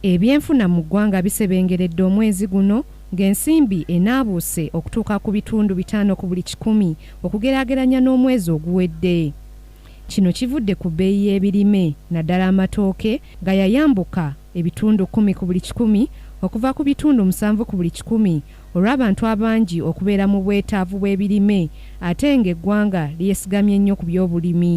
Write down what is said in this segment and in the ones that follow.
Ebyenfuna mu ggwanga bisebengeredde omwezi guno ng'ensimbi enaabuuse okutuuka ku bitundu bitaano ku buli kikumi okugeraageranya n'omwezi oguwedde. Kino kivudde ku bbeeyi y'ebirime naddala amatooke nga yayambuka ebitundu kkumi ku buli kikumi okuva ku bitundu musanvu ku buli kikumi olw'abantu abangi okubeera mu bwetaavu bw'ebirime ate ng'eggwanga lyesigamye nnyo ku by'obulimi.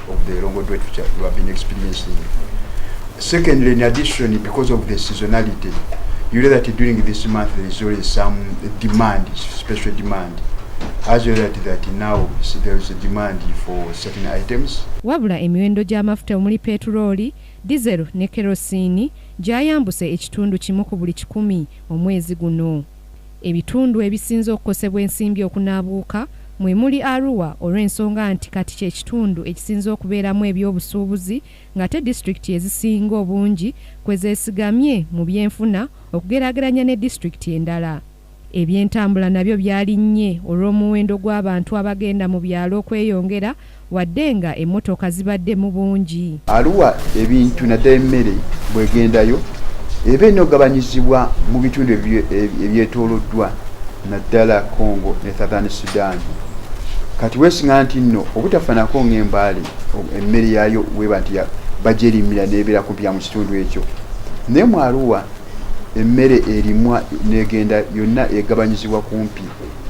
of the Longo Dwetu who have been experiencing. Secondly, in addition, because of the seasonality, you know that during this month there is always some demand, special demand. As you know that, that now there is a demand for certain items. Wabula emiwendo gy'amafuta omuli petulooli, dizero ne kerosiini gyayambuse ekitundu kimu ku buli kikumi omwezi guno. Ebitundu ebisinze okukosebwa ensimbi okunaabuuka mwe muli Arua olw'ensonga nti kati kye kitundu ekisinze okubeeramu eby'obusuubuzi ng'ate disitulikiti ezisinga obungi kwe zeesigamye mu byenfuna okugeraageranya ne disitulikiti endala. Ebyentambula nabyo byalinnye olw'omuwendo gw'abantu abagenda mu byalo okweyongera wadde nga emmotoka zibadde mu bungi. Arua ebintu naddala emmere bwegendayo eba enogabanyizibwa mu bitundu ebyetooloddwa naddala Congo ne Southern Sudan. Kati weesinga nti nno obutafanako ng'embaale emmere yaayo weba nti bagyerimira n'ebeera kumpi ya mu kitundu ekyo naye mu Arua emmere erimwa n'egenda yonna egabanyizibwa kumpi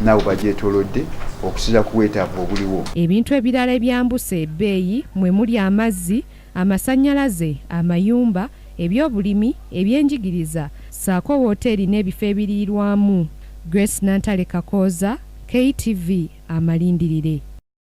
nabo bagyetolodde okusiza ku bwetaavu obuliwo. Ebintu ebirala ebyambuse ebbeeyi mwe muli amazzi, amasannyalaze, amayumba, ebyobulimi, ebyenjigiriza ssaako wooteeri n'ebifo ebiriirwamu. Grace Nantale Kakooza, KTV, amalindirire.